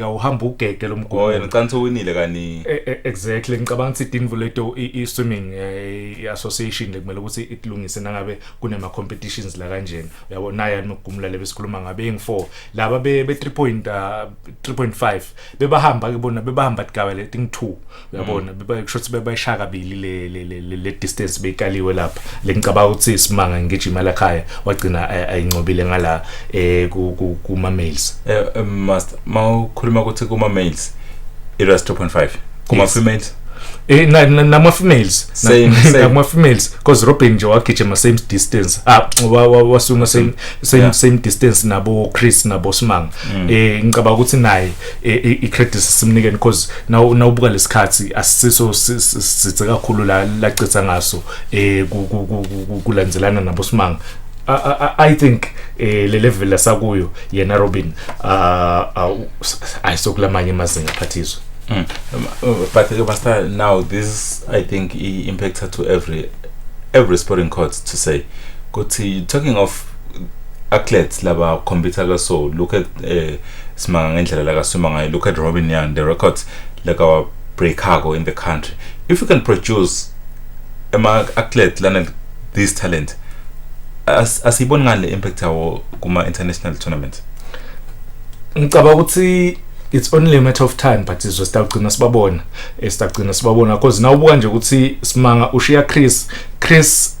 ufika uhamba ugege lomgomo oh yena ucansi owinile kani e, e, exactly ngicabanga ukuthi idinvu leto i swimming eh, association lekumele ukuthi ikulungise nangabe kunema competitions la kanjena uyabo naye anokugumula lebe sikhuluma ngabe eng 4 laba be 3.3.5 ah, bebahamba ke bona bebahamba tigaba leti ngi 2 uyabona mm. kusho ukuthi bebayishaya kabili le le le le distance beyikaliwe lapha le ngicabanga ukuthi simanga ngigijima la khaya wagcina eh, ayincobile ngala eh ku kuma males eh, eh master mawukhuluma ukuthi kuma males it was 2.5 kuma females eh na nama females same same nama females because Robin nje wagijima same distance ah wasuma same same same distance nabo Chris nabo Simanga mm. eh ngicabanga ukuthi naye i-credit simnikeni because naw nawubuka lesikhathi asisiso sithe kakhulu la lacitha ngaso eh kulandzelana nabo simanga I think eh le level lasakuyo yena Robin uh ayisokulamanye amazinga phathiswa Mm. Um, uh, but the master now this I think impacts to every every sporting court to say. Kuthi talking of athletes laba compete ka so look at eh simanga ngendlela la kasima ngayo look at Robin Young the records la ka breakako in the country if you can produce ama athlete lana this talent as asiboni ngale impact yawo kuma international tournament ngicaba ukuthi it's only a matter of time but izwe sitagcina sibabona esitagcina sibabona because nawubuka nje ukuthi simanga ushiya Chris Chris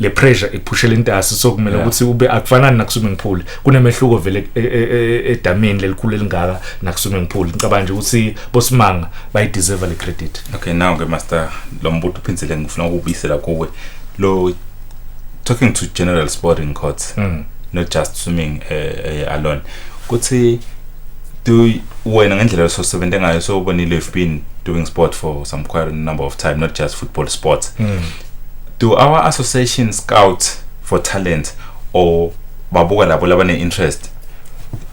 le pressure iphushela intasi so kumele ukuthi ube akufanani na swimming pool kunemehluko vele e, e, e, edamini lelikhulu elingaka na swimming pool ngicabanga nje ukuthi bosimanga bayi deserve le credit okay now ke master lo mbuto uphindile ngifuna ukubisela kuwe lo talking to general sporting courts mm. not just swimming uh, uh, alone kuthi do wena ngendlela sosebenze ngayo so ubonile you've been doing sport for some quite a number of time not just football sports mm. do our association scout for talent or babuka labo labane interest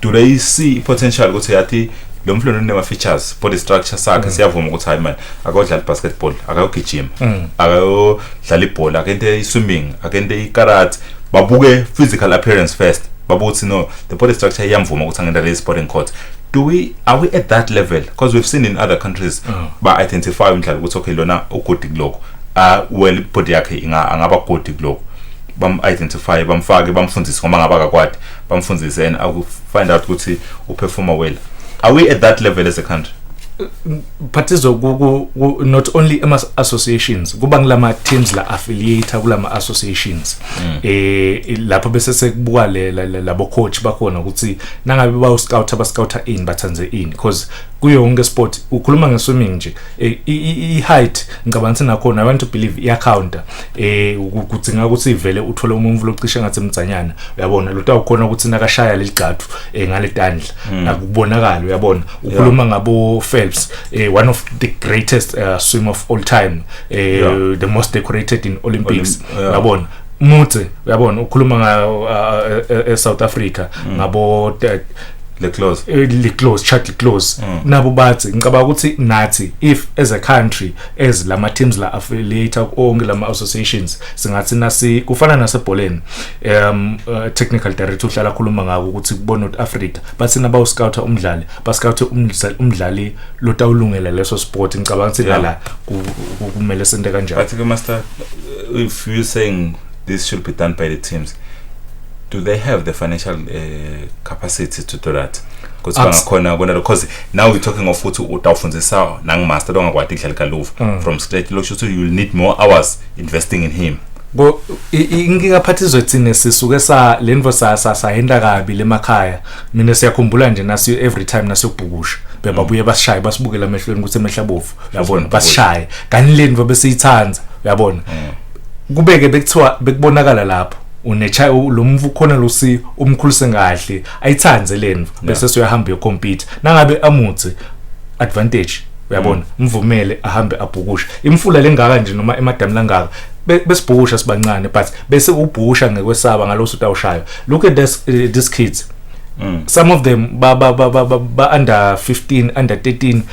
do they see potential ukuthi yathi lo mfana unema features body structure sakhe mm. siyavuma ukuthi hayi man akodlala basketball akayogijima mm. akayodlala ibhola akente iswimming akente ikarate babuke physical appearance first babuthi no the body structure iyamvuma ukuthi angenda le sporting court do we are we at that level because we've seen in other countries mm. ba identify umdlalo ukuthi okay lona uguti kuloko ah well body yakhe inga angaba good kuloko bam identify bamfake bamfundise ngoba ngaba kakwadi bamfundise and aku find out ukuthi u perform well are we at that level as a country phathizo ku- ku- ku- not only ama associations kuba ngilama teams la affiliate kulama associations eh lapho bese sekubuka le- le- le- labo coach bakhona ukuthi nangabe bawu scout aba scout in bathanze in because kuyo yonke sport ukhuluma ngeswimming nje eh, i-height ngicabanga ukuthi nakhona i want to believe iyacounta eh kudzinga ukuthi ivele uthole umuntu locishe ngathi mdzanyana uyabona lo tawukhona ukuthi nakashaya leligcathu eh, ngale tandla hmm. akubonakala uyabona ukhuluma ngabo Phelps eh, one of the greatest uh, swimmer of all time eh, the most decorated in Olympics uyabona Mutse uyabona ukhuluma nga e, e South Africa mm. ngabo le close e, le close chat le close mm. nabo bathi ngicabanga ukuthi nathi if as a country as lama teams la affiliate onke lama associations singathi nasi kufana nasebholeni um uh, technical director uhlala khuluma ngako ukuthi kubona ukuthi Africa bathi naba uscout umdlali ba scout umdlali lotawulungela leso sport ngicabanga ukuthi la kumele sente kanjani bathi ke master Uh, if you're saying this should be done by the teams, do they have the financial uh, capacity to do that? Because bangakhona kona because now we're talking of ukuthi utawufundisa nang master longakwati kudlala kaluva mm. from scratch lokusho ukuthi you'll need more hours investing in him. Bo inkinga phathi izothina sisuke sa lenvo sa sa sahenda kabi lemakhaya mina siyakhumbula nje nasi every time nasiyobhukusha bebabuye mm. basishaye basibukela emehlweni ukuthi emehla bovu uyabona basishaye kanti leni ngoba besiyithanda uyabona mm. kubeke bekuthiwa bekubonakala lapho unecha lo mfu khona lo si umkhulise kahle ayithande leni bese soyahamba yocompete nangabe amuthi advantage uyabona mm. mvumele ahambe abhukusha imfula lengaka nje noma emadamu langaka besibhusha sibancane but bese ubhusha ngekwesaba ngaloso utawushayo look at this, uh, these kids Mm. Some of them ba ba ba ba ba under 15 under 13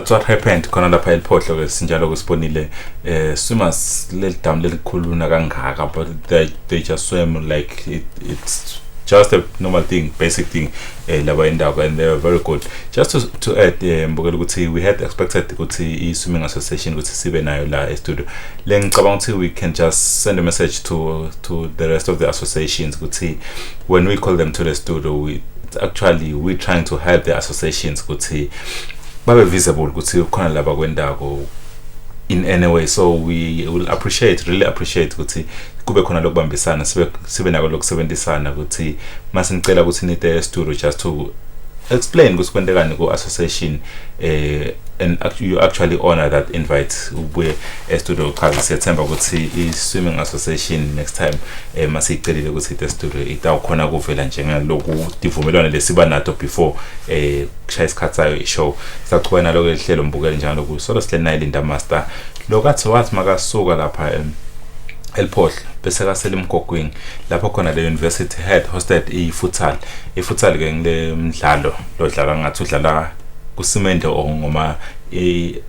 That's what happened khona lapha eliphohlo ke sinjalo kusibonile eh swimmers leli down lelikhuluna kangaka but they, they just swim like it, it's just a normal thing basic thing eh laba indawo and they were very good just to, to add eh mbukela ukuthi we had expected ukuthi i swimming association ukuthi sibe nayo la e studio lengicabanga ukuthi we can just send a message to to the rest of the associations ukuthi when we call them to the studio we actually we trying to help the associations ukuthi babe visible ukuthi khona laba kwendako in any way so we will appreciate really appreciate ukuthi kube khona lokubambisana sibe sibe nako lokusebenzisana ukuthi masinicela ukuthi nite studio just to explain ukuthi kwentekani ku association eh and you actually honor that invite ubuye estudio uchaza siyethemba ukuthi i-swimming association next time eh, uma siyicelile ukuthi ite studio itawukhona kuvela njengeloku divumelwano lesiba nato before eh kushaya isikhathi sayo i-show sachubeka naloko elihlelo mbukele njalo kusolo sihleli naye linda master lokathi wathi makasuka lapha em eliphohla bese kasele emgogwini lapho khona le university head hosted i-futsal i-futsal ke ngile mdlalo lodlala ngathi udlala kusimende or ngoma i-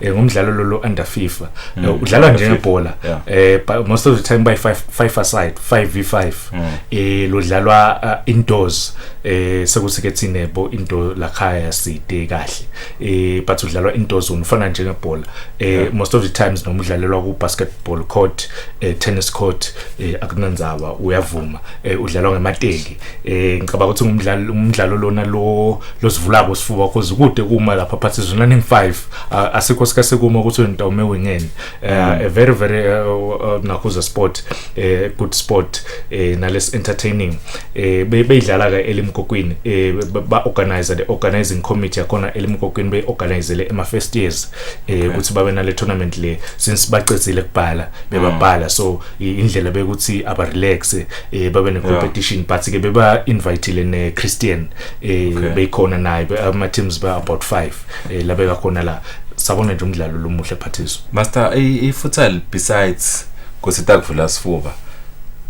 eh, ngumdlalo lolo under FIFA mm. eh, udlalwa njengebhola yeah. eh most of the time by 5 5 aside 5v5 mm. eh lodlalwa uh, indoors eh sekuthi ke thine bo into la khaya side kahle eh but udlalwa indoors unifana njengebhola eh yeah. most of the times noma udlalelwa ku basketball court eh tennis court eh akunanzaba uyavuma eh udlalwa ngemateki eh ngicabanga ukuthi umdlalo umdlalo lona lo losivulako sifuba cause kude kuma lapha phathi zona ning 5 asikho sika sekuma ukuthi uNtome wingeni eh, mm. a very very eh, uh, nakhuza sport eh good sport eh nales entertaining eh beyidlala ka elimkokwini eh ba organizer the organizing committee yakona elimkokwini be organizele ema first years eh ukuthi babe nale tournament le since baqedile kubhala bebabhala mm. so indlela bekuthi aba relax eh babe ne competition yeah. but ke beba invitele ne Christian eh okay. beyikhona naye ama teams ba about 5 eh labe kakhona la sabona nje umdlalo lomuhle phathiso master i futsal besides kusita kuvula sifuba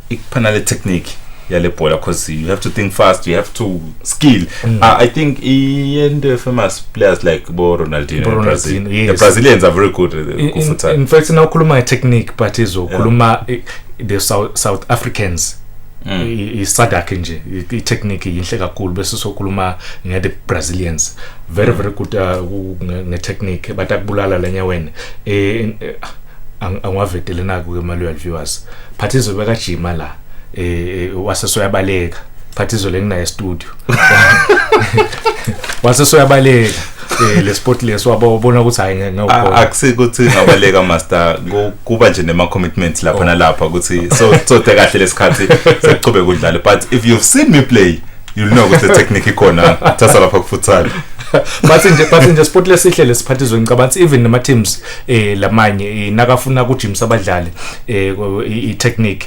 ikuphana le technique yale bhola because you have to think fast you have to skill mm. uh, i think into famous players like bo ronaldino, bo ronaldino yes. the brazilians are very good uh, in, in, in fact now ukhuluma technique but izokhuluma yeah. the south, south africans mm. isadakhe nje itechnique yinhle kakhulu bese sokhuluma nge-the brazilians very very good uh, nge-technique but akubulala lenye wena um angiwavedelena-ke ke maluyal viewers but izobekajima la eh, eh wase soyabaleka phathi izolo enginaye studio wase soyabaleka eh le sport leso wabona ukuthi hayi ngiyawukhola akusike ukuthi ngabaleka master kuba nje nema commitments lapha oh. nalapha ukuthi so so kahle lesikhathi sekuqhubeka udlale but if you've seen me play you'll know ukuthi technique ikhona thatha lapha kufutsal bathi nje bathi nje sport lesihle lesiphathizwe ngicabanga ukuthi even nama teams eh lamanye eh, nakafuna kujimisa abadlali eh i technique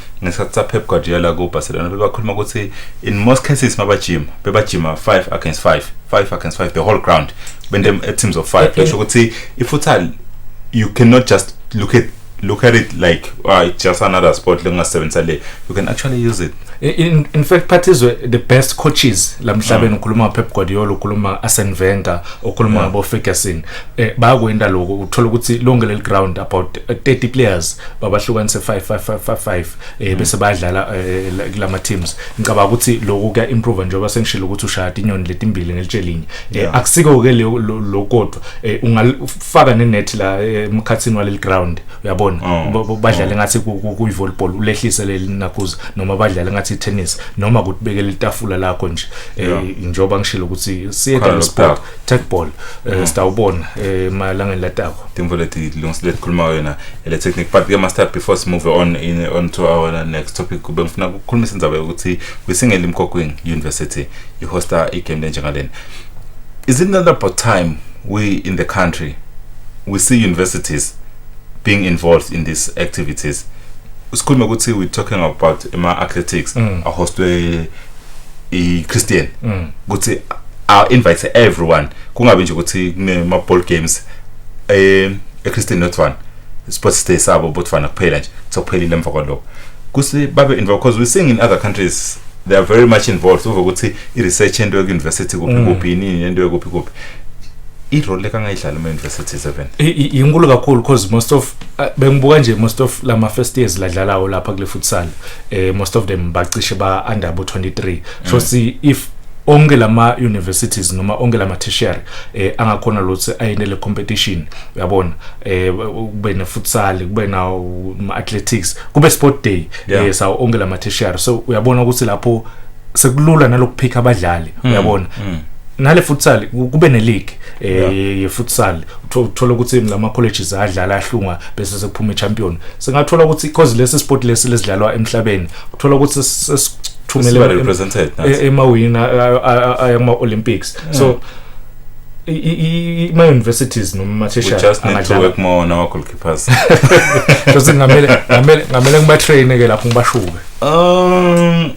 ngesikhathi sapep guardiola kubarcelona bebakhuluma ukuthi in most cases mabajima bebajima 5 against 5 5 against 5 the whole ground bende teams of 5 besho ukuthi ifutsal you cannot just look at look at it like uh, it's just another sport lengasebenzisa le you can actually use it in, in fact phathizwe the best coaches la mhlabeni mm. ukhuluma pep guardiola ukhuluma arsene wenger ukhuluma yeah. boferguson eh bayakwenda lokho uthola ukuthi lonke leli ground about 30 eh, players babahlukanise 5 5 5 5 eh bese mm. bayadlala eh, kulama teams ngicabanga ukuthi lokho kuya improve njengoba sengishilo ukuthi ushaya inyoni letimbili nelitshelinye eh, akusiko ke lokodwa eh, ungafaka nenet la emkhathini waleli ground uyabona oh. badlale oh. ngathi kuyi volleyball ulehlise leli nakuza noma badlale ngathi tennis noma kutibekele itafula lakho nje njengoba ngishilo ukuthi siye sport techball eh, mm. sitawubona eh, emalangeni latako timvo leti lungisilet khuluma wena ele technique but ke master before si move on in on to our next topic kube ngifuna ukukhulumisa indaba yokuthi kwisingeli imkhokwini university ihosta igame lenjengalena is it not about time we in the country we see universities being involved in these activities usikhuluma ukuthi we talking about ama athletics mm. ahostwe i Christian mm. ukuthi I invite everyone kungabe nje ukuthi kunema ball games eh e Christian not one sports day sabo botfana kuphela nje sokuphelile emva kwaloko kusi babe involved because we sing in other countries they are very much involved uve ukuthi i research into yoku university kuphi mm. kuphi yini into yokuphi kuphi irole kangayidlala ema university 7 inkulu kakhulu because most of uh, bengibuka nje most of lama first years ladlalawo lapha kule futsal eh most of them bacishe ba under abo 23 so mm. see if onke lama universities noma onke lama tertiary eh angakhona lothi ayenele competition uyabona eh kube ne futsal kube na athletics kube sport day yeah. eh sa onke lama tertiary so uyabona ukuthi lapho sekulula nalokuphika abadlali mm. uyabona mm. nale futsal kube ne league eh ye futsal uthola ukuthi lama colleges adlala ahlunga bese sekuphuma champion singathola ukuthi because lesi sport lesi lesidlalwa emhlabeni uthola ukuthi sesithumele represented e-, emawina ayama olympics mm. so ima universities noma mathisha just need to work more on our goalkeepers just ngamele ngamele ngamele ngiba train ke lapho ngibashuke um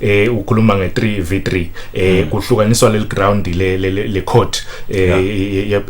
eh ukhuluma nge 3v3 eh mm. kuhlukaniswa leli ground le le court eh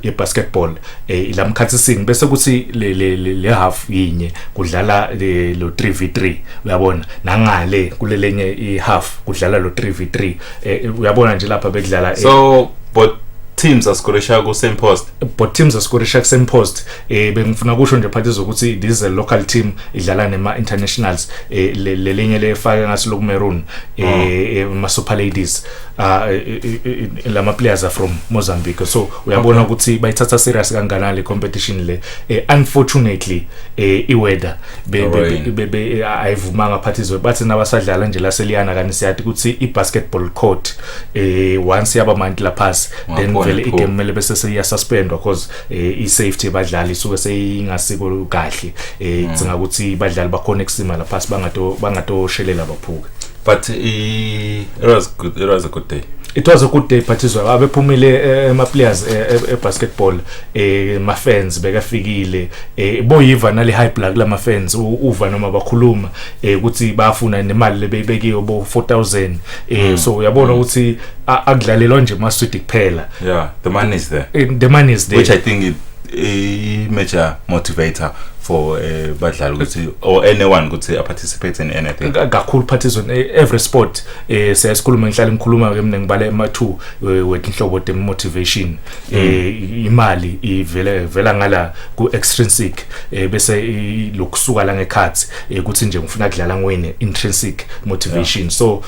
ye basketball eh lamkhathisini bese kuthi le le half yinye kudlala lo 3v3 uyabona nangale kulelenye i half kudlala lo 3v3 eh, uyabona nje lapha bekudlala eh. so but teams asikorisha ku same post but teams asikorisha ku same post eh bengifuna kusho nje phathi zokuthi this is a local team idlala nema internationals eh lelinye lefake ngaso lokumerun eh, oh. eh ma super ladies ah, eh, eh, lama players are from Mozambique so uyabona ukuthi bayithatha serious kanganani le competition le unfortunately eh iweather be ayivumanga phathi zo bathi nabasadlala nje la seliyana kanti siyathi ukuthi i basketball court eh once yaba mantla pass then vele igame mele bese seya suspendwa because eh i-safety yabadlali isuke seyingasiko kahle eh mm. cinga ukuthi badlali bakhona ekusima lapha bangato bangatoshelela baphuke but it was good it was a good day it was a good day phathizwa abephumile eh, ama players eh, eh, e basketball eh ma fans bekafikile eh boyiva nale high blood la ma fans uva noma bakhuluma ukuthi bafuna nemali lebeyibekiyo bo 4000 eh mm. so uyabona mm. ukuthi akudlalelwa nje maswidi kuphela yeah the money is there eh, the money is there which i think it a major motivator for uh, badlali ukuthi or anyone ukuthi a participate in anything kakhulu participate in eh, every sport eh siyayikhuluma ngihlale ngikhuluma ke mina ngibale ama two wethu inhlobo de motivation eh imali ivele vela ngala ku extrinsic eh bese i- lokusuka la ngekhathi eh, ukuthi nje ngifuna kudlala ngwini intrinsic motivation so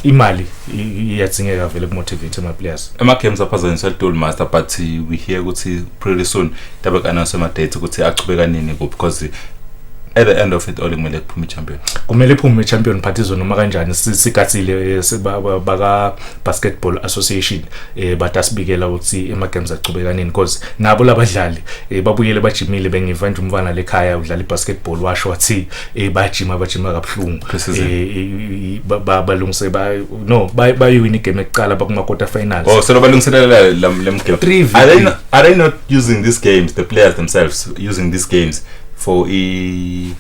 imali i- i- iyadzingeka vele ku motivate ama players ama-games aphazanyiswa litoli master but uh, we hear ukuthi pretty soon dabe ku-announce ama-date ukuthi achubeka nini kuphi because at the end of it all kumele kuphume i-champion kumele iphume i-champion party zone noma kanjani si- sigathile eh, si- ba- ba- baka basketball association eh but asibikela ukuthi emagames aqhubekanini because nabo labadlali eh babuyele bajimile bengiva nje umfana lekhaya udlala ibasketball washo wathi eh bajima bajima kabuhlungu eh balungise ba no bayuwina igame ekuqala bakuma quarter finals oh so balungiselela lemgame are they not, are they not using these games the players themselves using these games for i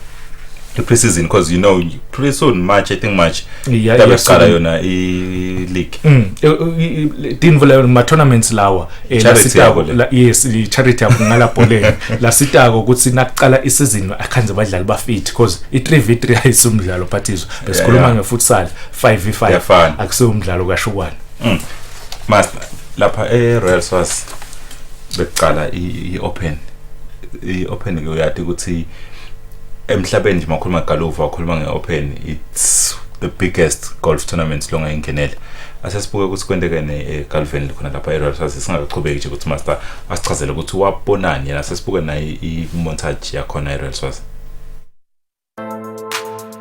the preseason because you know pretty soon March I think March yeah, yeah, qala yona i league mm dinvula yona ma tournaments lawa eh, lasitako yes i charity yakho ngala bholeni lasitako ukuthi nakuqala i season akhanze badlali ba fit because i 3v3 ayisumdlalo phathizo besikhuluma nge futsal 5v5 akusiwo umdlalo kashukwana mm. master lapha e Royal Swaz bekuqala i open i open ke uyati ukuthi emhlabeni nje makhuluma galuva wakhuluma nge-open it's the biggest golf tournament longayingenele asesibuke ukuthi kwendekene egalveni eh, khona lapha eroyal saze singakaqhubeki nje ukuthi master asichazele ukuthi wabonani yena sesibuke naye i-montage yakhona eroyal saze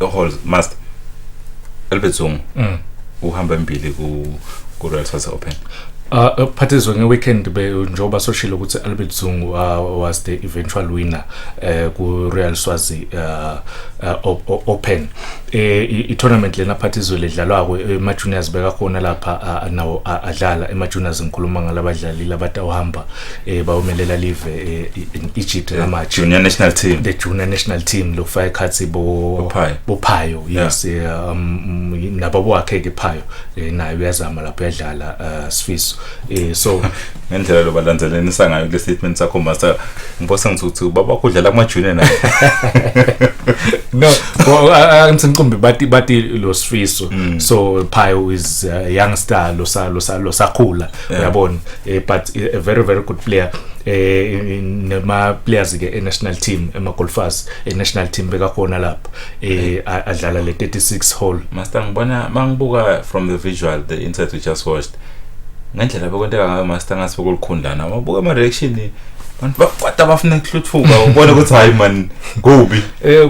Holes must Albert Zungu mm. uhamba embili ku ku Royal South Open Uh, uh phathizwe ngeweekend njengoba soshilo ukuthi Albert Zungu uh, was the eventual winner uh, ku Real Swazi uh, uh, Open eh i tournament lena phathizwe ledlalwako ema juniors beka khona lapha uh, nawo adlala ema juniors ngikhuluma ngalabadlali labatawuhamba eh bawumelela live eh, in Egypt yeah. ngamathi junior national team the junior national team lo fire khathi bo bophayo yes yeah. Eh, um, nabo wakhe ke phayo eh, naye uyazama lapho yadlala uh, Sifiso eh so ngendlela lo balandzelenisa ngayo le statement sakho master ngibose ngithuthi ubaba kudlala kuma junior naye no ngicimbi bathi bathi lo Sifiso mm. so phayo is uh, young star lo sa lo sa lo sakhula yeah. uyabona eh, but eh, a very very good player eh nema players ke e national team ema golfers e national team bekakhona lapha eh adlala le 36 hole master ngibona mangibuka from the visual the insert we just watched ngendlela bekwenteka ngayo master ngase bekulikhundlana wabuka ama reaction abantu bakwata bafuna ukuhluthuka ubone ukuthi hayi man kubi eh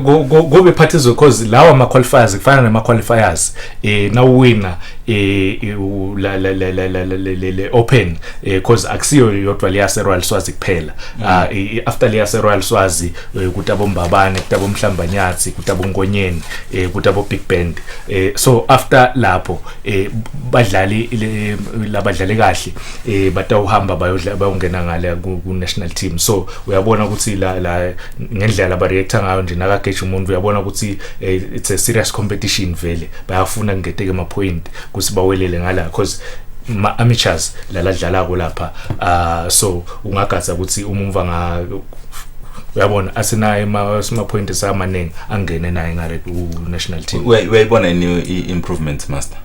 kube phathizwe because lawa ama qualifiers kufana nama qualifiers eh nawuwina e, e, la la la la la le open because e, akusiyo yodwa leya se Royal Swazi kuphela mm. ah, after leya se Royal Swazi kuthi abombabane kuthi abomhlambanyathi kuthi abongonyeni kuthi abo big band so after lapho badlali labadlali kahle batawuhamba bayodla bayongena ngale ku national team so uyabona ukuthi la ngendlela ba react ngayo nje nakageja umuntu uyabona ukuthi eh, it's a serious competition vele bayafuna kungeteke ama point kusi bawelele ngala because ma amateurs lala dlalako lapha uh, so ungagaza ukuthi umumva nga uyabona asinaye ma sima point samaningi angene naye nga red u national team uyayibona ni improvement master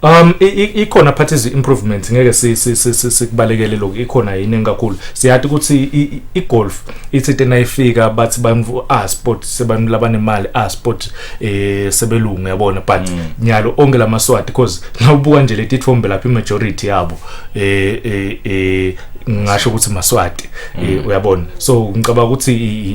um ikhona phathi izi improvements ngeke sikubalekele lokho ikhona yini engakhulu siyathi ukuthi i-golf ithi tena ifika bathi bamvu ah sport sebantu labanemali a sport eh sebelungu yabona but mm. nyalo onke lamaswati because nawubuka nje letithombe lapha majority yabo eh eh, eh ngisho ukuthi maswati mm. eh, uyabona so ngicabanga ukuthi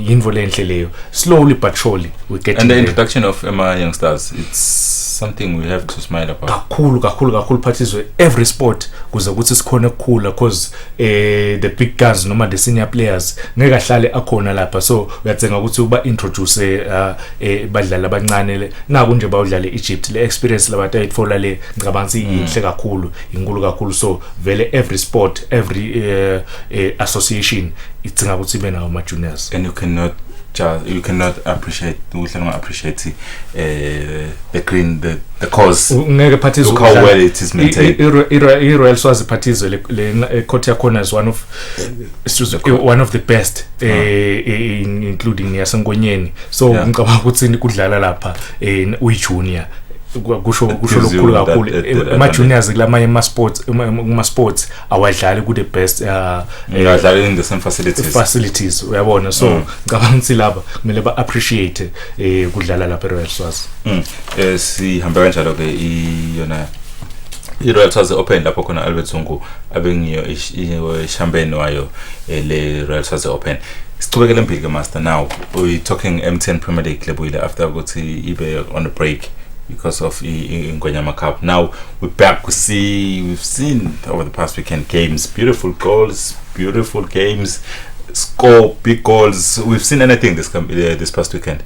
yinvo lenhle leyo slowly but surely we get and the introduction of Emma youngsters it's something we have to smile about kakhulu kakhulu kakhulu phathizwe every sport kuze ukuthi sikhona ukukhula because eh the big guns noma the senior players ngeke ahlale akhona lapha so uyathenga ukuthi uba introduce eh, ah, eh badlali abancane le naku nje bawudlale Egypt le experience labantu ayithola le ngicabanga ukuthi mm. yinhle kakhulu inkulu kakhulu so vele every sport every uh, uh, association ithinga ukuthi ibe nawo ama juniors and you cannot just you cannot appreciate uhle unga appreciate eh the green the the cause ngeke phathi izwe how well it is maintained i Royal Swazi phathi izwe le eh, court yakhona is one of eh, one of the best ah. eh, including yasenkonyeni so ngicabanga ukuthi kudlala lapha uyi junior kusho kusho lokukhulu kakhulu ama juniors kulamanye ama sports kuma sports awadlali ku the best uh, ngadlala in the same facilities facilities uyabona so mm. ngicabanga ukuthi laba kumele ba appreciate eh kudlala lapha eRoyal Swaz mm. eh sihambe kanjalo ke iyona i-royal stars open lapho khona albert zungu abengiyo ishampeni wayo eh, le royal stars open sichubekele mbili ke master now we talking mtn premier league lebuyile after ukuthi ibe on a break because of ingwenyama cup now We're back. We see we've seen over the past weekend games, beautiful goals, beautiful games, score big goals. We've seen anything this com- uh, this past weekend.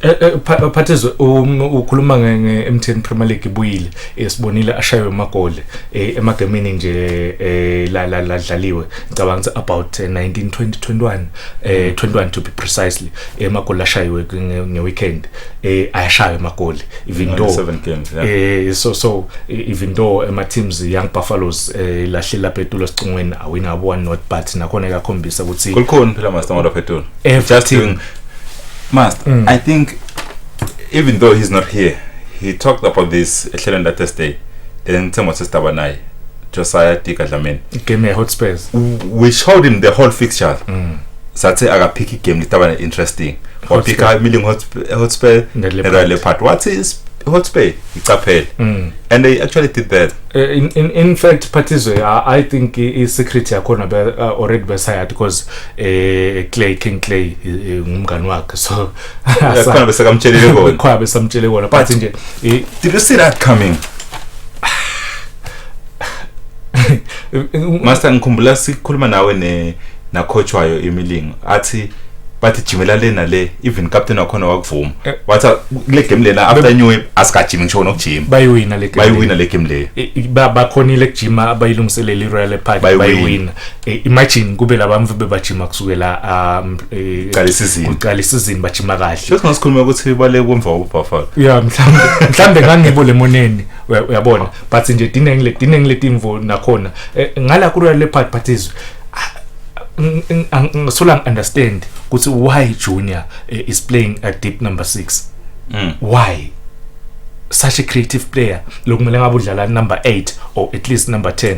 Eh, eh, pha- eh, phathizwe um, ukhuluma nge- nge-mtn premier league ibuyile Eh, sibonile ashaywe amagoli eh, emagemini nje eh, la- la- ladlaliwe ngicabanga ukuthi about eh, 19 20 21 eh 21 to be precisely emagoli ashayiwe ngeweekend eh ayashaya emagoli even though 7 games yeah. eh so so even though ema teams young buffaloes eh lahle lapha etulo sicungweni awina abo one not but nakhona ekakhombisa ukuthi kulikhona phela master ngoba phethu just doing master mm. i think even though he's not here he talked about this ehlelweni la thursday then ngithemba sesitaba naye Josiah Tika Dlamini game Hotspurs we showed him the whole fixture mm. sathe akaphika igame litaba interesting waphika imiling Hotspur neRoyal Leopard wathi Hotspur icaphele mm. and they actually did that uh, in, in, in fact Patizwe uh, I think i-secret yakhona be, uh, already besayati because uh, Clay King Clay ngumngani wakhe so khona besekamtshelile kona khona besamtshele kona but nje did you see that coming master ngikhumbula sikhuluma nawe ne nakhotshwayo imilingo athi bathi jimela le nale even captain wakhona wakuvuma eh. wathi kule game lena after new year asikajimi ngisho nokujima bayiwina le game bayiwina le game leyo bakhonile kujima abayilungiselele iRoyal Park bayiwina eh, imagine kube labamvu bebajima kusukela um, eh, Qala isizini. kuqala isizini bajima kahle Shothi ngasikhuluma ukuthi bale kwemva uBuffalo. ya mhlawumbe mhlawumbe ngangibo lemoneni uya- uyabona but nje dine ngile dine ngile timvo nakhona Eh, ngala ku Royal Leopard but izwe ngisola ngi understand ukuthi why junior eh, is playing at deep number 6 Mm. why such a creative player lokumele ngabe udlala number 8 or at least number 10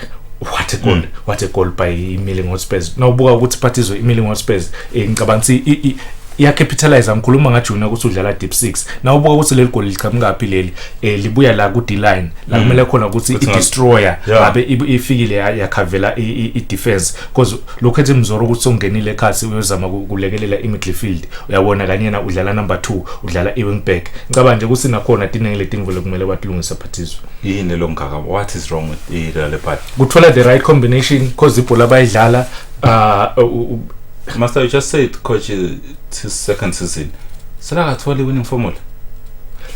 what a goal mm. what a goal by Milling Hotspurs nawubuka ukuthi phathizwe iMilling Hotspurs eh, ngicabanga ukuthi iyacapitalize ngikhuluma ngajuna ukuthi udlala deep 6 na ubuka ukuthi leli goli liqhamuka phi leli eh, libuya la ku D-line la mm. kumele khona ukuthi i-destroyer ngabe ifikile yakhavela i-defense because lokho ethi mzoro ukuthi songenile ekhasi uyozama kulekelela i-midfield uyabona kanyena udlala number 2 udlala i-wing back ngicabanga nje ukuthi nakhona dinenge letinvo lekumele batilungise but yini lo mgaka what is wrong with the real party kuthola the right combination because ibhola bayidlala uh, uh, uh, uh master you just said coach uh, his second season selakatholi winning formula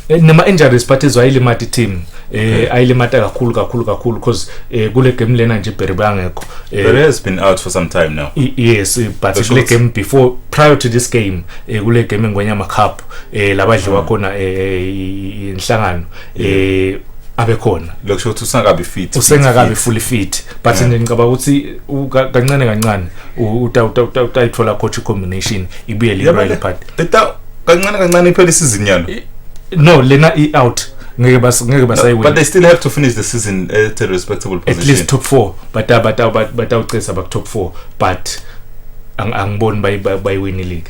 eh, noma injuries but izwayilimata i-team eh ayilimata kakhulu kakhulu kakhulu because eh kule game lena nje Berry bangekho eh, Berry has been out for some time now yes eh, but kule game before prior to this game eh kule game engwenyama cup eh labadliwa mm. khona eh inhlangano eh abekhona lokusho ukuthi usengakabi fit usengakabi fully fit but yeah. ngicabanga ukuthi kancane kancane utayithola coach combination ibuye le right part beta kancane kancane iphele isizini yalo no lena i out ngeke bas ngeke basayewin but they still have to finish the season at a respectable position at least top 4 but uh, but uh, but but awucesa uh, back top 4 but angiboni bayiwini league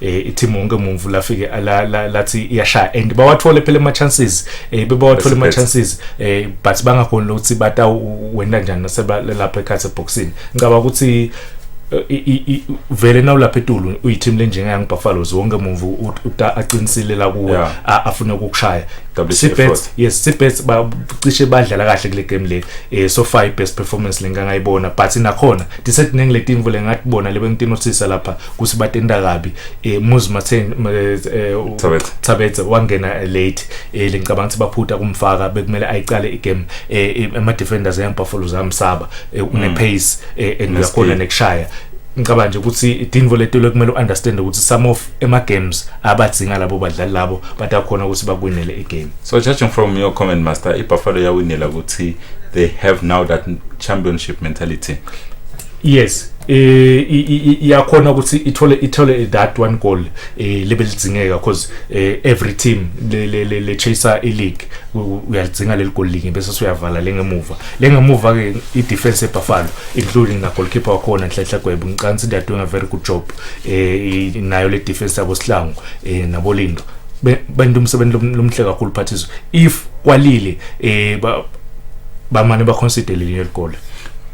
eh ithi wonke mumvu lafike lathi iyashaya and bawathole phela ama chances eh bebawathole ama chances eh but bangakhona ukuthi bata wena kanjani naseba lapha ekhathe boxing ngicaba ukuthi eh, vele nawu lapha etulu uyiteam lenjengayangu Buffaloes wonke mumvu aqinisile la kuwe afuna ukukushaya Sibets yes Sibets bacishe badlala kahle kule game le eh so far best performance lengangayibona but nakhona disethi nengiletimvu lengathi bona lebengitinosisa lapha kusibatenda kabi eh muzi mathe eh, eh, Thabethe wangena late eh lengicabanga ukuthi baphutha kumfaka bekumele ayiqale igame eh ama defenders ya Buffalo zamsaba eh, une mm. pace and uyakhona nekushaya ngicabanga nje ukuthi Dinvo Letelo kumele uunderstand ukuthi some of ema games abadzinga labo badlali labo batakhona ukuthi bakwinele igame so judging from your comment master iBuffalo yawinela ukuthi they have now that championship mentality yes eh iyakhona ukuthi ithole ithole that one goal eh lebe lidzingeka because eh, every team le le le chaser i league uyalidzinga leli goal linye bese uyavala lengemuva lengemuva ke i defense eBuffalo including na goalkeeper wakhona Nhlanhla Gwebo ngicansi they are doing a very good job eh nayo le defense yabo Sihlangu eh nabo Lindo benza umsebenzi lomhle kakhulu phathiswe if kwalile eh bamane ba consider leli goal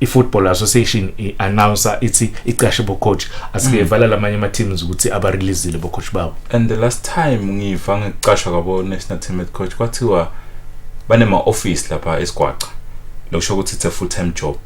i-football association i-announcer ithi icashe bocoach asikevala mm. lamanye ama-teams ukuthi abareleasile bocoach babo and the last time ngiva ngicashwa kwabo-national team at coach kwathiwa banema-office lapha esigwaca lokusho ukuthi it's a full time job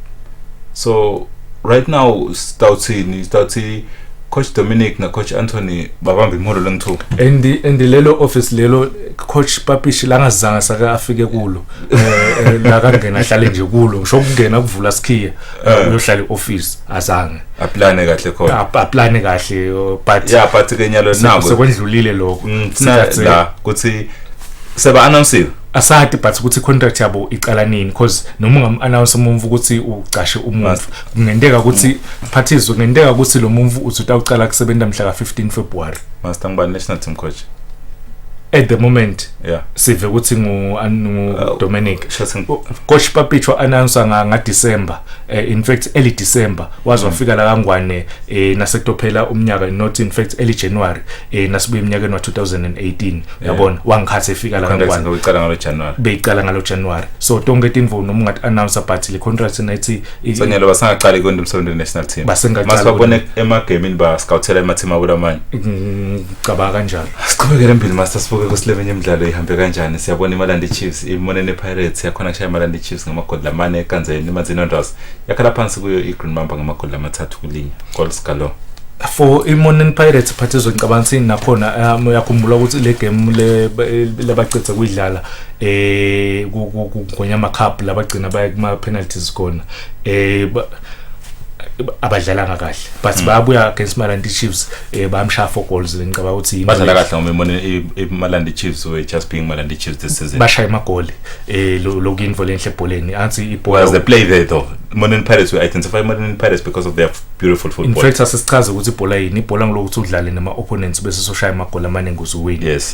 so right now sitawuthini sitawuthi coach dominic nacoach anthony babambe imholo lengithuka and and lelo office lelo coach papishi langazange sake afike kulo eh, eh, la kangena ahlale nje kulo ngisho ukungena kuvula sikhiya eh. uyohlala e-office azange aplane kahle khona aplane kahle oh, but yeah but ke nyalo nako sekwendlulile lokho mm, la kuthi seba announce asati but ukuthi contract yabo iqala nini because noma ungamannounce umuntu ukuthi ucashe umuntu kungenteka ukuthi phathizwe kungenteka ukuthi lo muntu uthi utawucala kusebenza mhla ka 15 February master ngibani national team coach at the moment yeah sive ukuthi ngu ngu uh, Dominic coach Papicho announcer nga nga December eh, in fact early December waze wafika la kangwane eh, nasetophela umnyaka not in fact early January eh, nasibuye eminyakeni wa 2018 yabona wangikhathe efika la kangwane beyiqala ngalo January beyiqala ngalo January so tonke tinvo noma ungathi announcer but le contract nathi sonyelo basangaqali kwenda umsebenzi national team masibabone emagamini ba scoutela emathima kulamanye ngicabanga kanjalo siqhubekele mbili master sibuke ukuthi leminye imidlalo ihambe kanjani siyabona imalandi chiefs imone nepirates yakhona kushaya imalandi chiefs ngamagoli lamane ekanzeni imanzini ondrows yakhala phansi kuyo i-green mamba ngamagoli amathathu kulinye goals galo for imoneni pirates phathi ezongicabanga sini nakhona um uyakhumbula ukuthi le game labacedza kuyidlala um kugonyama cup labagcina baya kuma-penalties khona um abadlalanga kahle but mm. bayabuya against Malandi Chiefs eh bamshaya four goals ngicabanga ukuthi badlala kahle ngoba imone iMalandi Chiefs we just being Malandi Chiefs this season bashaya amagoli eh lokinvo lenhle ebholeni anti ibhola was the play there though Monin Pirates we identify Monin Pirates because of their beautiful football in fact asisichaze ukuthi ibhola yini ibhola ngilokuthi udlale nama opponents bese soshaya amagoli amaningi uzuwini yes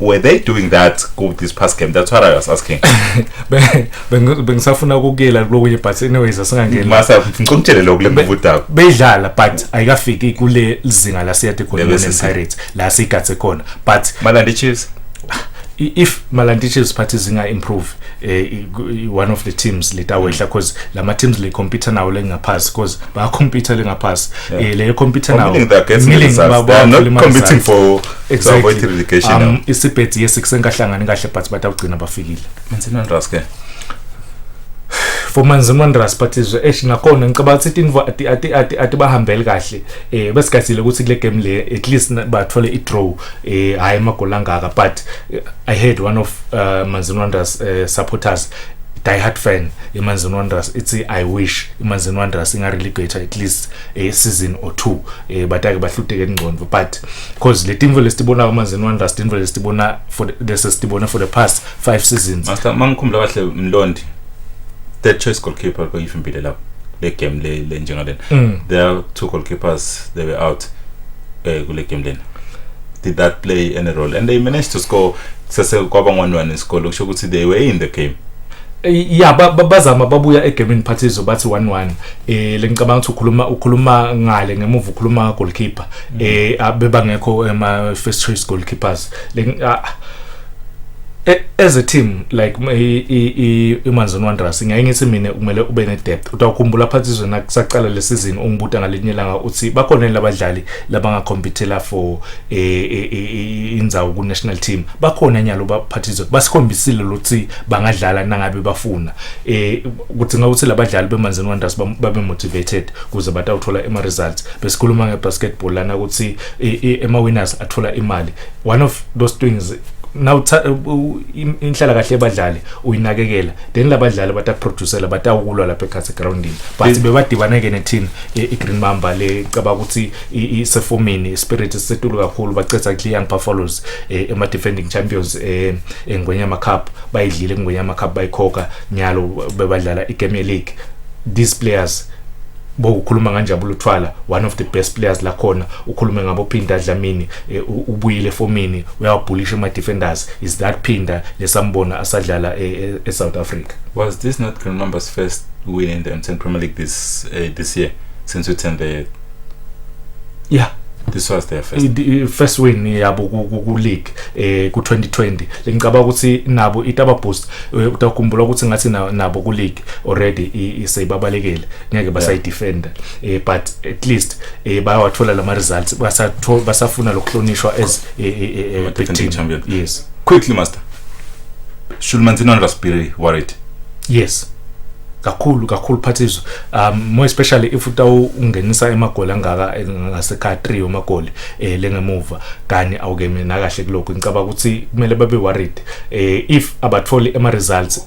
were they doing that with this past game that's what i was asking bengisafuna ukukela lokunye but anyways asingangeni masa ngicela ukutshele lokho lengubudaba beyidlala but ayikafiki kule lizinga la siyade khona ne Pirates la sigathe khona but Malandi Chiefs if Malandi Chiefs party zinga improve eh, one of the teams letawehla because mm. lama teams le computer nawo lengaphasi because ba computer lengaphasi eh, le computer nawo milling ba competing for Exactly. relegation um, isibhedzi yes kusenkahlangani kahle but batawugcina bafikile Manzini Wanderers ke for Manzini Wanderers but izwe esh nakhona ngicabanga ukuthi tinvo ati ati ati ati bahambeli kahle eh besigazile ukuthi kule game le at least bathole i draw eh hayi amagoli angaka but eh, i heard one of uh, Manzini Wanderers uh, supporters diehard fan imanzini wanderers ithi i wish imanzini wanderers ingarelegate at least a eh, season or two eh batake bahluteke ingcondo but because le team vele sitibona kamanzini wonders team vele sitibona for the, this is sitibona for the past five seasons master mangikhumbula kahle mlondi third choice goalkeeper koyifimpile lapho le game le le njengalena mm. there are two goalkeepers they were out eh kule game lena did that play any role and they managed to score sase kwaba ngonwani isikole kusho ukuthi they were in the game Eh, ya bazama babuya egamini phathizo bathi 1-1 eh lengicabanga ukuthi ukhuluma ukhuluma ngale ngemuva ukhuluma goalkeeper mm. eh abebangekho ema first choice goalkeepers like ah, e, as a team like imanzini wanderers ngeke ngithi mina kumele ube ne-depth utawukhumbula phansi izwe nakusaqala le season ungibuta ngalinye langa uthi bakhona yini labadlali labangakhompithela for e, e, indzawo ku-national team bakhona nyalo baphatha izwe basikhombisile lokuthi bangadlala nangabe bafuna um kudzinga ukuthi labadlali bemanzini wanderers babe motivated kuze batawuthola ema-results besikhuluma ngebasketball lana ukuthi ema winners athola imali one of those things now inhlala kahle yabadlali uyinakekela then labadlali batakuproducela batawukulwa lapha ekhathi egroundini but bebadibaneke neteam i-green mamba le caba ukuthi isefomini ispirit sisetulu kakhulu bacetha ku-young buffaloes eh, ema-defending champions eh, engwenyama cup bayidlile engwenyama cup bayikhokha nyalo bebadlala igame league these players bo ukhuluma nganjabulo thwala one of the best players la khona ukhulume ngabo phinda dlamini eh, ubuyile fomini uyawabhulisha ama defenders is that phinda lesambona asadlala e eh, eh, South Africa was this not Green Mambas first win in the MTN Premier League this uh, this year since we turned the yeah this was their first the first win yabo ku league eh ku 2020 lengicaba ukuthi nabo itaba boost eh, utakhumbula ukuthi ngathi nabo ku league already seyibabalekele ngeke basayidefenda um eh, but at least um bayawathola lama results basafuna lokuhlonishwa as eh, big team champion yes quickly master should manzino and raspberry worried yes kakhulu kakhulu phathizo um more especially if utawungenisa emagoli angaka ngasekha 3 omagoli eh lengemuva kani awukeme nakahle kuloko ngicaba ukuthi kumele babe worried eh if abatholi ema results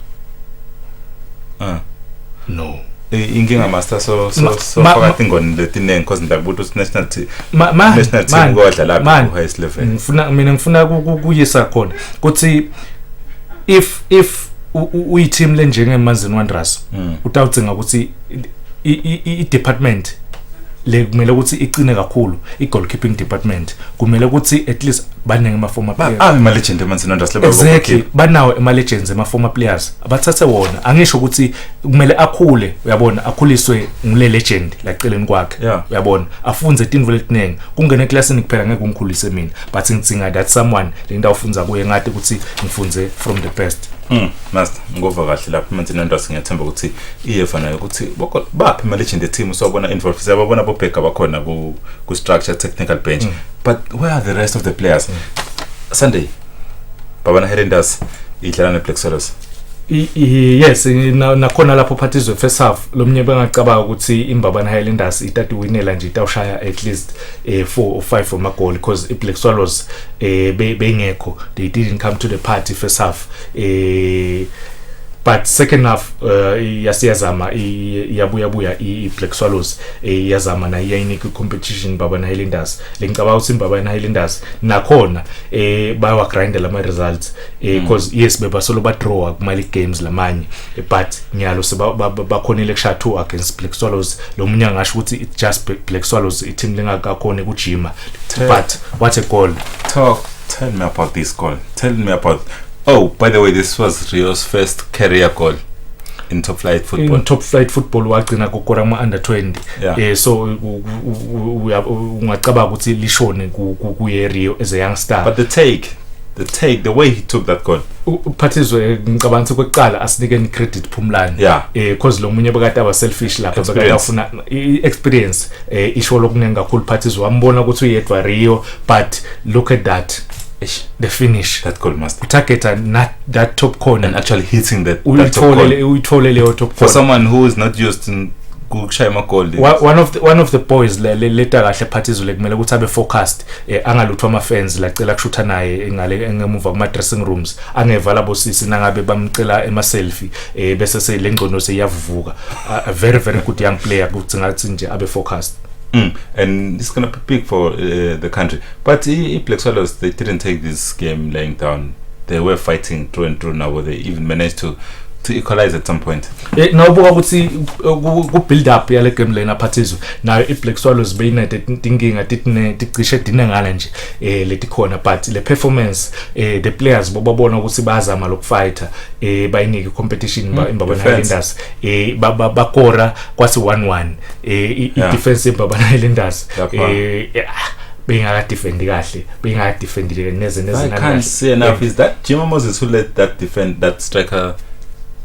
ah no inkinga master so so so phakathi ngoni letiningi because ngiyakubuta ukuthi national team national team kodla lapha ku highest level ngifuna mina ngifuna ukuyisa khona ukuthi if if uyi team lenjenge Mazin Wanderers hmm. utawudzinga ukuthi i-department le kumele ukuthi iqine kakhulu i-goalkeeping department kumele ukuthi at least baningi ama-former players ah ama-legend emanzini andase exactly banawo ama-legends ama-former players abathathe wona angisho ukuthi kumele akhule uyabona akhuliswe ngule legend la celeni kwakhe uyabona afunze tinvo letiningi kungene eklasini kuphela ngeke ungikhulise mina but ngidzinga that someone le nto awufunza kuye ngathi ukuthi ngifunze from the best Mm, master ngova kahle lapha manje nendose ngiyathemba ukuthi iyeva nayo ukuthi baphi ama-legend eteam sobona involve siyababona bobheka bakhona ku-structure technical bench mm. but where are the rest of the players mm. sunday babana helendas idlala ne-black solos yes nakhona lapho phathi izwe first half lo mnye bengacabanga ukuthi imbabana highlanders itati winela nje itawushaya at least eh, four or five from amagoli because i-black swallows eh, bengekho they didn't come to the party first half eh, but second half uh, yasiyazama iyabuya buya i-black swallows iyazama nayo iyayinika i-competition babana highlanders lengicabanga ukuthi babana highlanders nakhona eh bayawagrinda lama results eh mm. cause yes bebasolo badraw kumali games lamanye eh, but ngiyalo sebakhonile kushaya two against black swallows lo munye angasho ukuthi it just black swallows i-team lingakakhona ukujima but what a goal talk tell me about this goal tell me about Oh, by the way, this was Rio's first career goal in top flight football. In top flight football wagcina kokora kuma under 20. Yeah. Eh so ungacabanga ukuthi lishone kuye Rio as a young star. But the take the take the way he took that goal uphathizwe ngicabanga ukuthi kwekuqala asinike ni credit phumlani yeah. eh cause lo munye bekade aba selfish lapha bekade afuna experience eh isho lokuningi kakhulu phathizwe wambona ukuthi uyedwa Rio but look at that Eish, the finish that goal must be. utargeta na- that top corner And actually hitting that, that top goal. uyitholele uyithole leyo top For corner someone who is not used in kushaya amagoli. Wa- one of the, one of the boys le- le- leta kahle phathi izule kumele ukuthi abe focused eh, angaluthwa ama fans la cela kushutha naye ngale engemuva kuma dressing rooms angevala bosisi nangabe bamcela ema selfie eh, bese selengcono seyavuvuka a, a very very good young player kuthi ngathi nje abe focused Mm. And it's going to be big for uh, the country. But i-Black Swallows, they didn't take this game laying down. They were fighting through and through now, they even managed to to equalize at some point eh, nawubuka ukuthi ku-build up yale game lena phathizwe nayo i-black swallows beyinede tinkinga ticishe dinengana nje um eh, letikhona but le performance um the players bobabona ukuthi bayazama lokufighter um bayinike i-competition mm, imbabona highlanders um bakora kwasi 1-1 eh i Yeah. defense yebabana Islanders Lapha. eh eh, ah, bengaka defend kahle bengaka defend neze neze I can't see enough. Is that Jimmy Moses who let that defend that striker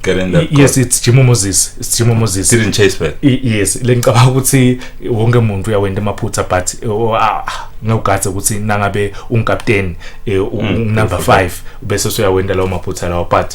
get in that? yes it's Jimo Moses it's Jimo Moses goal? didn't chase back. I- yes lengicabanga ukuthi wonke umuntu uyawenda amaphutha but eh, o- ah, ah, ngawugathe ukuthi nangabe ungikapteni eh, u- Mm, unumber 5 bese usuyawenda lawo maphutha lawo but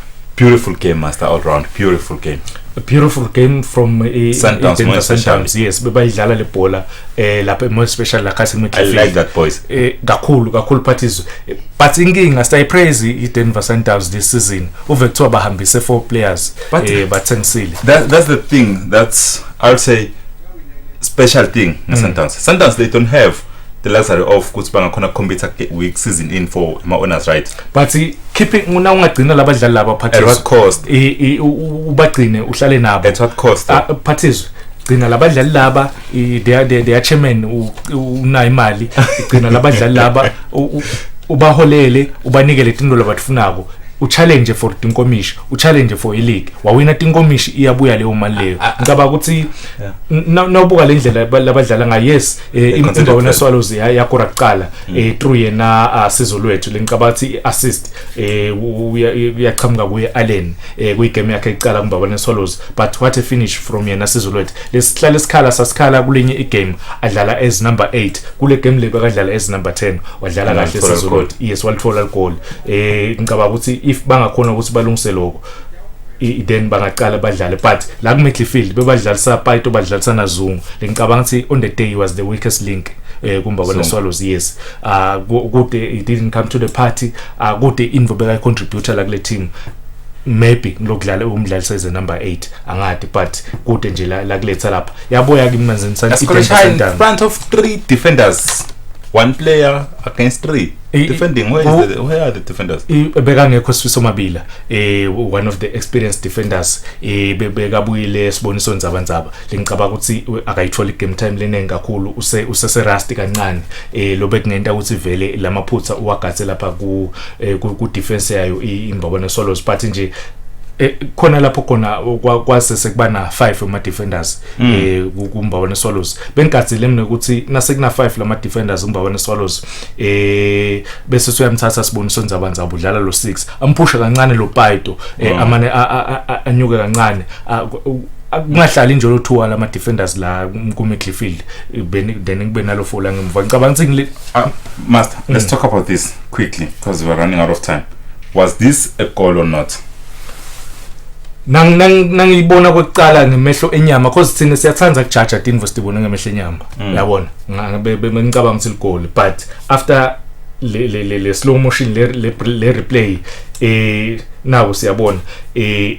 beautiful game master all round beautiful game a beautiful game from uh, Sundowns, Eden Moya Sundowns yes bebayidlala le bhola eh lapha more special la Castle I like that boys eh kakhulu kakhulu but izwe eh, but inkinga stay praise i Denver Sundowns this season uve kuthiwa bahambise four players but, eh bathengisile that, that's the thing that's i would say special thing mm. Sundowns Sundowns they don't have the luxury of ukuthi bangakhona kukhompyutha week season in for ama-owners right but keeping una ungagcina labadlali laba cost ubagcine uhlale nabo at what cost ah, phathizwe gcina labadlali laba their chairman unayo imali gcina labadlali laba ubaholele ubanikele tinto labatifunako uchallenge for tinkomishi uchallenge for ileague wawina tinkomishi iyabuya leyo mali leyo ngicabanga ukuthi nawubuka le ndlela labadlala ngayo yes Eh, imba wena swallows yakora kuqala mm. eh through yena ah, sizo lwethu lengicabathi assist eh uyaqhamuka kuye Allen eh kuyi game yakhe iqala kumba wena swallows but what a finish from yena sizo lwethu lesihlale isikhala sasikhala kulenye igame adlala as number 8 kule game le bekadlala as number 10 wadlala kahle sizo lwethu yes walithola goal eh ngicabanga ukuthi if bangakhona ukuthi balungise lokho then bangaqala badlale but la kumidfield bebadlalisa paito badlalisa nazungu ngicabanga ukuthi on the day he was the weakest link eh kumba bona swallows yes uh kude he didn't come to the party uh kude invo beka contributor la kule team maybe ngilokudlala umdlali size number 8 angadi but kude nje la, la kuletha lapha yaboya kimi manzini santi front of three defenders one player against three Eh, defending where, oh, the, where are the defenders eh, bekangekho sifiso mabila eh one of the experienced defenders eh bekabuyile siboniso nzabanzaba lengicabanga ukuthi akayitholi game time leningi kakhulu use usese rusty kancane eh lobe kungenta ukuthi vele lamaphutha uwagathe lapha ku eh, ku defense yayo imbabana solos but nje Eh, khona lapho khona kwase sekuba na 5 ama defenders mm. eh kumbawana swallows bengigadzile mina ukuthi nase kuna 5 lama defenders umbawana swallows eh bese soyamthatha siboniso ndzaba ndzaba udlala lo 6 amphusha kancane lo Paito eh, mm. amane anyuke kancane kungahlali nje lothuwa lama defenders la ku midfield beni then kube nalo fola ngemva ngicabanga ukuthi ngile ah, master mm. let's talk about this quickly because we're running out of time was this a goal or not nang nang nangiyibona kwekuqala ngemehlo enyama because thina siyathanda kujaja tinvo sibone ngemehlo enyama mm. yabona bengicabanga ukuthi ligoli but after le le le, le slow motion le le, le replay eh nawo siyabona eh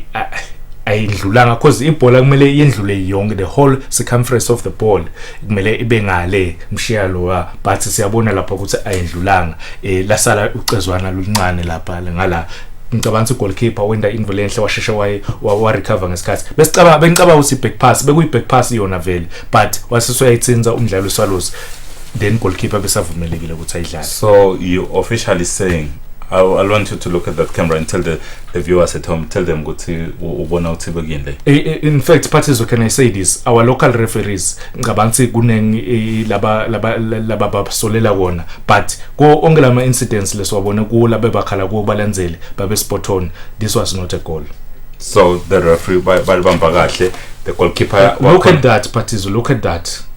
ayindlulanga because ibhola kumele yendlule yonke the whole circumference of the ball kumele ibe ngale mshiya lowa but siyabona lapha ukuthi ayindlulanga eh lasala ucezwana luncane lapha ngala ngicabanga ukuthi goalkeeper wenda invo lenhle washeshe waye wa recover ngesikhathi besicabanga bengicabanga ukuthi back pass bekuyi back pass yona vele but wasiswa yayitsinza umdlalo uSwallows then goalkeeper besavumelekile ukuthi ayidlale so you officially saying I, I want you to look at that camera and tell the, the viewers at home, tell them ukuthi ubona uThibe kuyini le. In fact, Pathizo can I say this? Our local referees ngicabanga ukuthi kuningi laba laba laba basolela kona but ko onke lama incidents lesiwabona kuwo labe bakhala kuwo balandzele babe spot on. This was not a goal. so the referee balibamba kahle the goalkeeper look at that Patizo look at that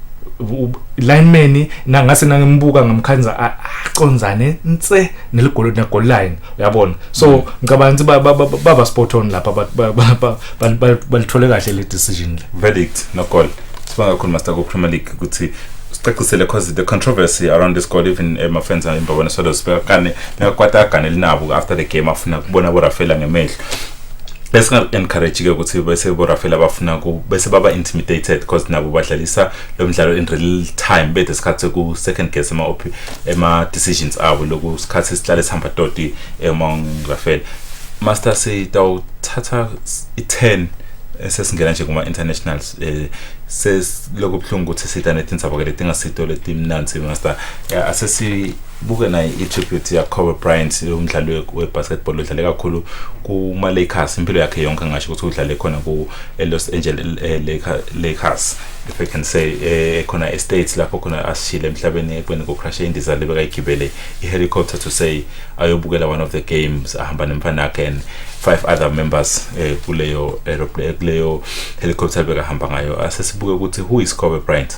lineman nangase nangimbuka ngamkhanza aconzane nse neligolo ne goal line uyabona so mm. ngicabanga ukuthi baba spot on lapha balithole kahle le decision le verdict no goal sibanga kakhulu master ku Premier League ukuthi sicacisele because the controversy around this goal even emafenza eh, imbabona solo sibekane bekakwata agane linabo after the game afuna kubona bo Rafaela ngemehlo bese encourage ke ukuthi bese bo Rafael abafuna ku bese baba intimidated because nabo badlalisa lo mdlalo in real time bethe sikhathi ku second guess ema op ema decisions abo loku sikhathi sihlale sihamba toti emong Rafael master sitawuthatha i-10 sesingena nje kuma internationals eh sesilokubhlungu ukuthi sitha netindzaba ke letingasito letimnanzi master asesi buke naye i-tribute yakobe bryant umdlali we-basketball odlale kakhulu kuma-lakers impilo yakhe yonke ngasho ukuthi udlale khona ku-los eh, angeles eh, lakers if i can say eh, khona estates lapho khona asishile emhlabeni ekubeni kucrashe indiza le bekayigibele i-helicopter to say ayobukela one of the games ahamba nemfana yakhe and five other members eh, kuleyo aeroplane kuleyo helicopter bekahamba ngayo asesibuke ukuthi who is kobe bryant